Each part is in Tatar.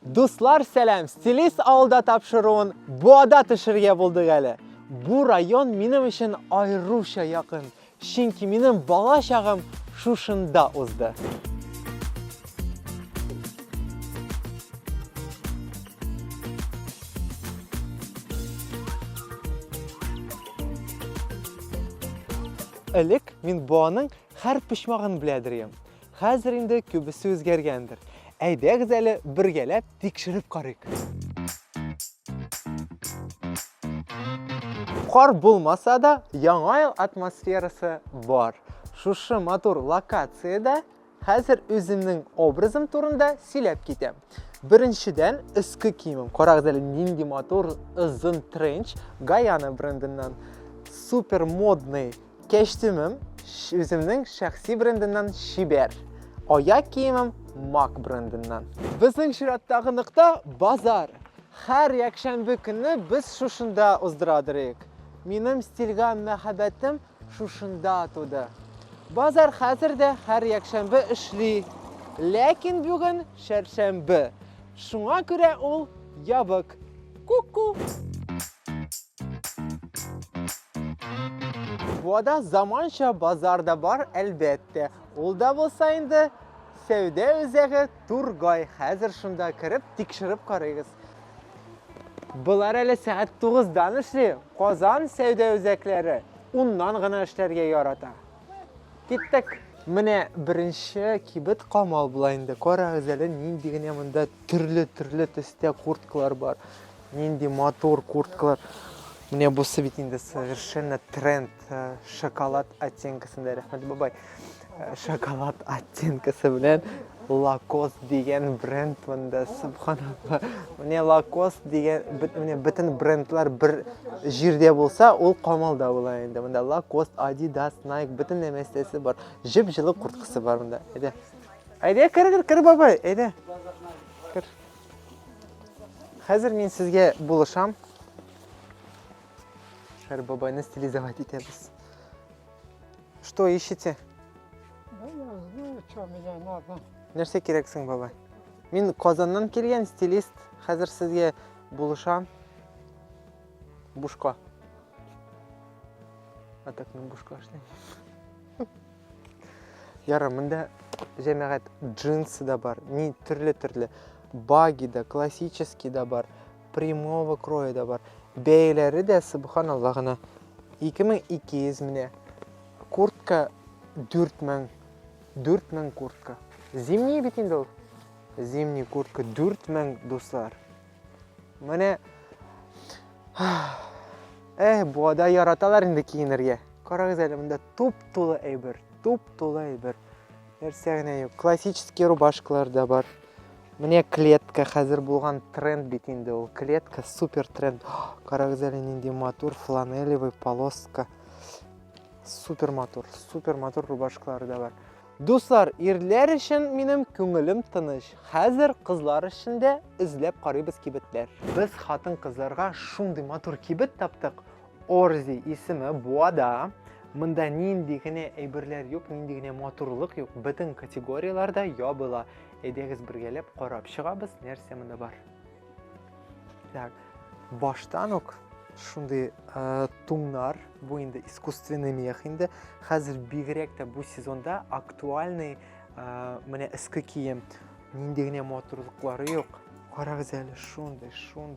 Дуслар сәлам! Стилист авылда тапшыруын Буада төшерергә булдык әле. Бу район минем өчен аеруча якын, чөнки минем бала чагым шушында узды. Элек мин Буаның һәр почмагын белә дер идем. Хәзер инде күбесе үзгәргәндер. Әйдәгез әле бергәләп тикшереп карыйк. Кар булмаса да, яңа ел атмосферасы бар. Шушы матур локациядә хәзер үземнең образым турында сөйләп китәм. Беренчедән, өске киемем. Карагыз әле нинди матур озын тренч Гаяна брендыннан. Супер модный Кәчтүмем үземнең шәхси брендыннан чибәр, аяк киемем Мак брендыннан. Безнең чираттагы нокта базар. Хәр якшәмбе көнне без шушында уздыра дөрик. Минем стильга мәхәббәтем шушында туды. Базар хәзер дә хәр якшәмбе эшли, ләкин бүген чәршәмбе. Шуңа күрә ул ябык. Ку-ку! Буада заманча базар да бар, әлбәттә. Ул да булса инде сәүдә үзәге Тургай. Хәзер шунда кереп, тикшереп карыйгыз. Болар әле сәгать 9-дан эшли. Казан сәүдә үзәкләре 10-нан гына эшләргә ярата. Киттек! Менә беренче кибет камал була инде. Карагыз әле, нинди генә монда төрле-төрле төстә курткалар бар. Нинди матур курткалар. Менә бусы бит инде совершенно тренд. Э, шоколад оттенкасында, рәхмәт бабай. Э, шоколад оттенкасы белән Лакос дигән бренд монда, субханалла. Менә Лакос дигән, менә бөтен брендлар бер җирдә булса, ул Камалда була инде. Монда Лакос, Adidas, Nike, бөтен нәрсәсе бар. Җеп җылы курткасы бар монда. Әйдә. Әйдә, кер, кер, кер, бабай, әйдә. Кер. Хәзер мин сезгә булышам. Шәр бабайны стилизовать итәбез. Что ищете? Да я знаю, что мне надо. Нәрсә кирәк соң, бабай? Мин Казаннан килгән стилист. Хәзер сезгә булышам. Бушка. А так мин бушка эшләйм. Яра, монда җәмәгать джинсы да бар, ни төрле-төрле. Баги да, классический да бар. Прямого кроя да бар. Бәяләре дә, субханалла гына, 2200 менә. Куртка 4000. 4000 куртка. Зимний бит инде ул. Зимний куртка 4000, дуслар. Менә Эх, буада яраталар инде киенергә. Карагыз әле, монда туп-тулы әйбер, туп-тулы әйбер. Нәрсә генә юк. Классический рубашкалар да бар. Менә клетка хәзер булган тренд бит инде ул. Клетка супер тренд. Карагыз әле нинди матур фланелевый полоска. Супер матур, супер матур рубашкалар да бар. Дуслар, ирләр өчен минем күңелем тыныч. Хәзер кызлар өчен дә эзләп карыйбыз кибетләр. Без хатын-кызларга шундый матур кибет таптык. Орзи исеме Буада. Монда нинди генә әйберләр юк, нинди генә матурлык юк, бөтен категорияләр дә ябыла. Әйдәгез бергәләп карап чыгабыз, нәрсә монда бар. Так, баштан ук шундый ә, туңнар, бу инде искусственный мех инде. Хәзер бигрәк тә бу сезонда актуальный ә, менә эске кием. Нинди генә матурлыклары юк. Карагыз әле, шундый, шундый.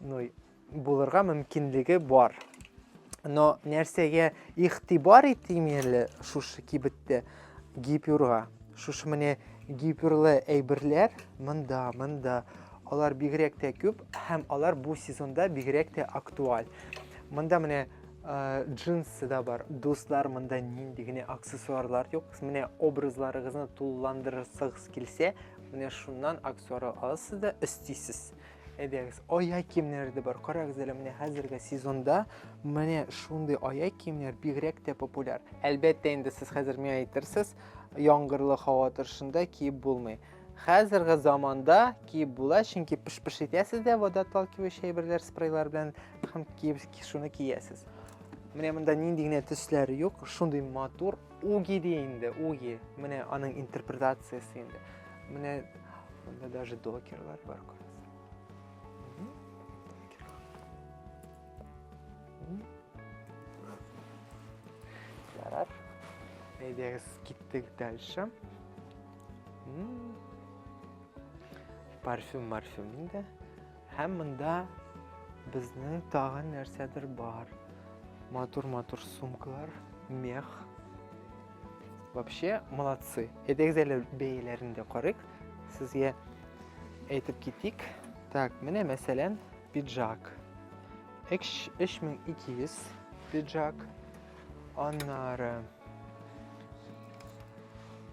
Ну, булырга мөмкинлеге бар. Но нәрсәгә ихтибар итим әле шушы кибеттә? Гипюрга. Шушы менә гипюрлы әйберләр монда, монда. Алар бигрәк тә күп һәм алар бу сезонда бигрәк тә актуаль. Монда менә Э, джинсы да бар дуслар мында нинди генә аксессуарлар юк менә образларыгызны тулыландырасыгыз килсә менә шуннан аксессуар аласыз да өстисез Әйдәгез, аяк киемнәре дә бар. Карагыз әле менә хәзерге сезонда менә шундый аяк киемнәр бигрәк тә популяр. Әлбәттә инде сез хәзер миңа әйтерсез, яңгырлы һава торышында киеп булмый. Хәзерге заманда киеп була, чөнки пыш-пыш итәсез дә водоотталкивающий әйберләр, спрейлар белән һәм киеп шуны киясез. Менә монда нинди генә төсләр юк, шундый матур уги ди инде, уги. Менә аның интерпретациясе инде. Менә монда даже докерлар бар күрәсең. Ярар. Әйдәгез, киттек дальше. Парфюм, парфюм инде. Һәм монда безнең тагын нәрсәдер бар. Матур-матур сумкалар, мех. Вообще молодцы. Әйдәгез әле бәяләрен дә карыйк. Сезгә әйтеп китик. Так, менә мәсәлән, пиджак. 3200 пиджак. Аннары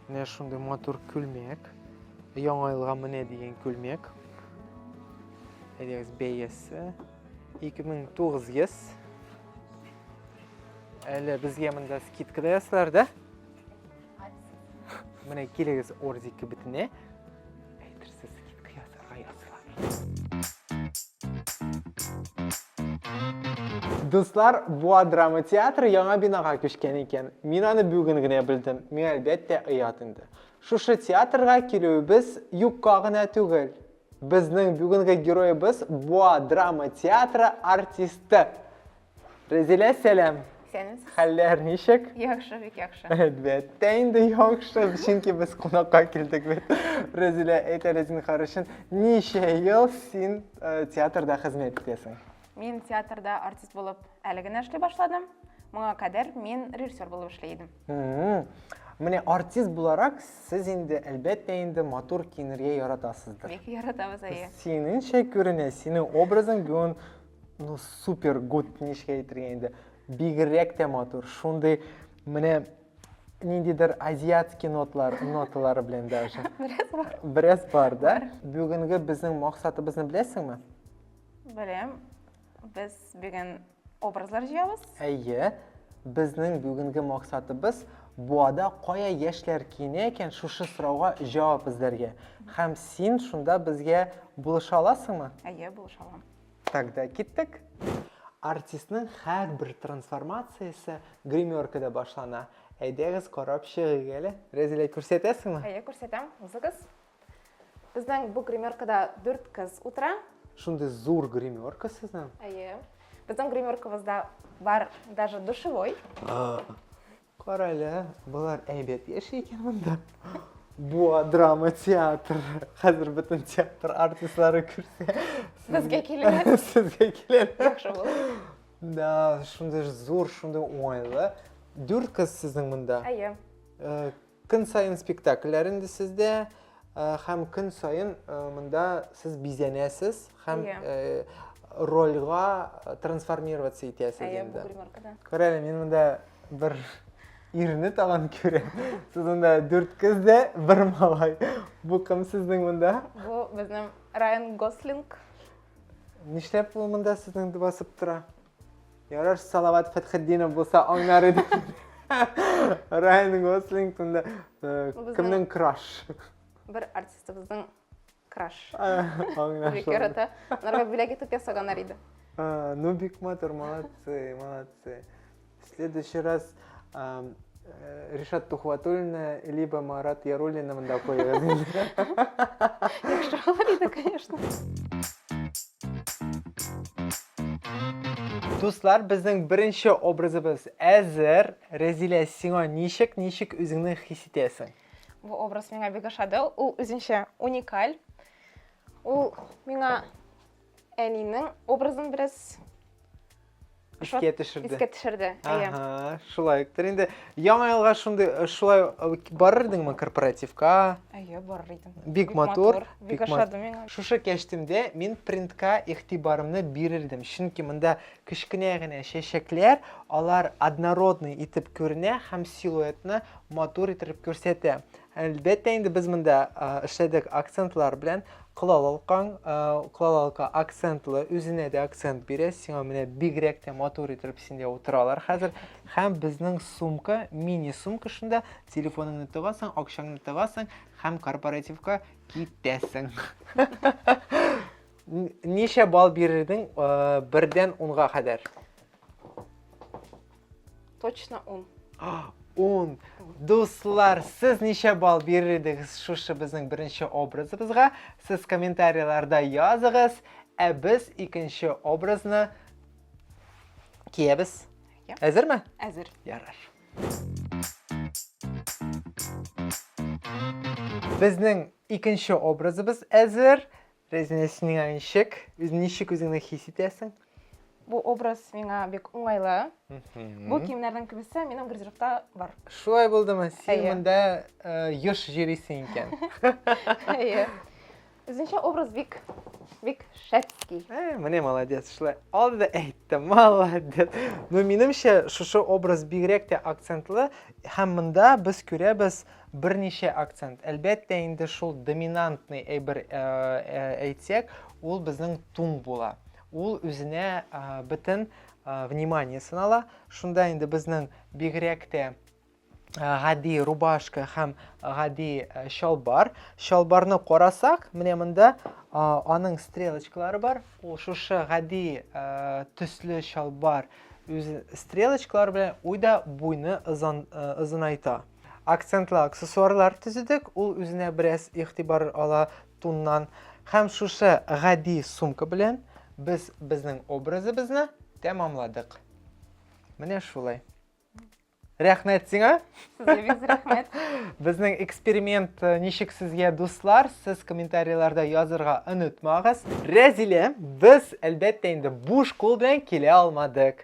менә шундый матур күлмәк. Яңа елга менә дигән күлмәк. Әйдәгез бәясе 2900 Әле безгә монда скидка да ясалар, да? Менә килегез Орзи кибетенә. Әйтерсез скидка ясарга ясалар. Дуслар, Буа драма театры яңа бинага күчкән икән. Мин аны бүген генә белдем. Миңа әлбәттә оят инде. Шушы театрга килүебез юкка гына түгел. Безнең бүгенге героебыз Буа драма театры артисты. Резилә, сәлам. Сәлам. Хәлләр ничек? Яхшы, бик яхшы. Әлбәттә, инде яхшы, чөнки без кунакка килдек бит. Резилә, әйт әле зинһар өчен, ничә ел син э, театрда хезмәт итәсең? Мин театрда артист булып әле генә эшли башладым. Моңа кадәр мин режиссер булып эшли идем. Менә артист буларак сез инде, әлбәттә инде, матур киенергә яратасыздыр. Бик яратабыз, әйе. Синеңчә күренә, синең образың бүген ну супер гуд, ничек әйтергә инде. Бигрәк тә матур. Шундый менә ниндидер азиатский нотлар, ноталары белән даже. Бераз бар. Бераз бар, да? Бүгенге безнең максатыбызны беләсеңме? Беләм. Без бүген образлар җыябыз. Әйе, безнең бүгенге максатыбыз буада кая яшьләр киенә икән шушы сорауга җавап эзләргә. Һәм син шунда безгә булыша аласыңмы? Әйе, булыша алам. Тогда киттек. Артистның һәрбер трансформациясе гримеркада башлана. Әйдәгез карап чыгыйк әле. Рәзилә, күрсәтәсеңме? Әйе, күрсәтәм. Узыгыз. Безнең бу гримеркада дүрт кыз утыра. Шундый зур гримерка сезнең? Әйе. Безнең гримеркабызда бар даже душевой. Кара әле, болар әйбәт яши икән монда. Буа драма театр. Хәзер бөтен театр артистлары күрсә. Безгә киләләр. Сезгә киләләр. Яхшы булыр. Да, шундый зур, шундый уңайлы. Дүрт кыз сезнең монда. Әйе. Э, Көн саен спектакльләр инде сездә һәм көн саен монда сез бизәнәсез һәм рольга трансформироваться итәсез инде. Күрәле, мин монда бер ирне тагын күрәм. Сез монда дүрт кыз да, бер малай. Бу кем сезнең монда? Бу безнең Райан Гослинг. Нишләп ул монда сезнең басып тора? Ярар, Салават Фәтхетдинов булса аңнар иде. Райан Гослинг тунда э, кемнең краш? Бер артистыбызның краш. Бик ярата. Нарга бүләк итеп ясаганнар иде. Ну, бик матур, молодцы, молодцы. В следующий раз Ришат Тухватуллина, либо Марат Яруллина мында куегыз. Яхшы булыр иде, конечно. Дуслар, безнең беренче образыбыз әзер. Рәзилә, сиңа ничек, ничек үзеңне хис итәсең? Бу образ миңа бик ошады. Ул үзенчә уникаль. Ул миңа әнинең образын бераз искә төшерде искә төшерде әйе шулай үктер инде яңа елга шундый э, шулай э, барыр идеңме корпоративка әйе барыр идем бик матур бик ошады миңа шушы кәчтемдә мин принтка игътибарымны бирер идем чөнки монда кечкенә генә чәчәкләр алар однородный итеп күренә һәм силуэтны матур итеп күрсәтә Әлбәттә инде без монда эшләдек акцентлар белән. Кылалалкаң, кылалалка акцентлы, үзенә дә акцент бирә. Сиңа менә бигрәк тә матур итеп синдә утыралар хәзер. Һәм безнең сумка, мини сумка шунда, телефоныңны тыгасың, акчаңны тыгасың һәм корпоративка китәсең. Ничә балл бирердең бердән унга кадәр? Точно он. Ун. Дуслар, сез ничә балл бирер идегез шушы безнең беренче образыбызга? Сез комментарийларда языгыз, ә без икенче образны киябез. Әзерме? Әзер. Ярар. Безнең икенче образыбыз әзер. Резинә, син миңа ничек? Үз ничек үзеңне хис итәсең? Бу образ миңа бик уңайлы. Бу киемнәрнең күбесе минем гардеробта бар. Шулай булдымы? Син монда э, еш йөрисең икән. Әйе. Үзенчә образ бик бик шәпский. Э, менә молодец, шулай алды да әйтте, молодец. Ну, минемчә, шушы образ бигрәк тә акцентлы, һәм монда без күрәбез Берничә акцент. Әлбәттә инде шул доминантный әйбер әйтсәк, ул безнең тун була. Ул үзенә бөтен вниманиесен ала. Шунда инде безнең бигрәк тә гади рубашка һәм гади чалбар. Чалбарны карасак, менә монда аның стрелочкалары бар. Ул шушы гади төсле чалбар үз стрелочкалары белән уйда буйны озынайта. Акцентлы аксессуарлар төзедек, ул үзенә бераз игътибар ала туннан. Һәм шушы гади сумка белән без безнең образыбызны тәмамладык. Менә шулай. Рәхмәт сиңа. Сезгә бик рәхмәт. Безнең эксперимент э, ничек сезгә дуслар? Сез комментарийларда язырга онытмагыз. Рәзилә, без әлбәттә инде буш кул белән килә алмадык.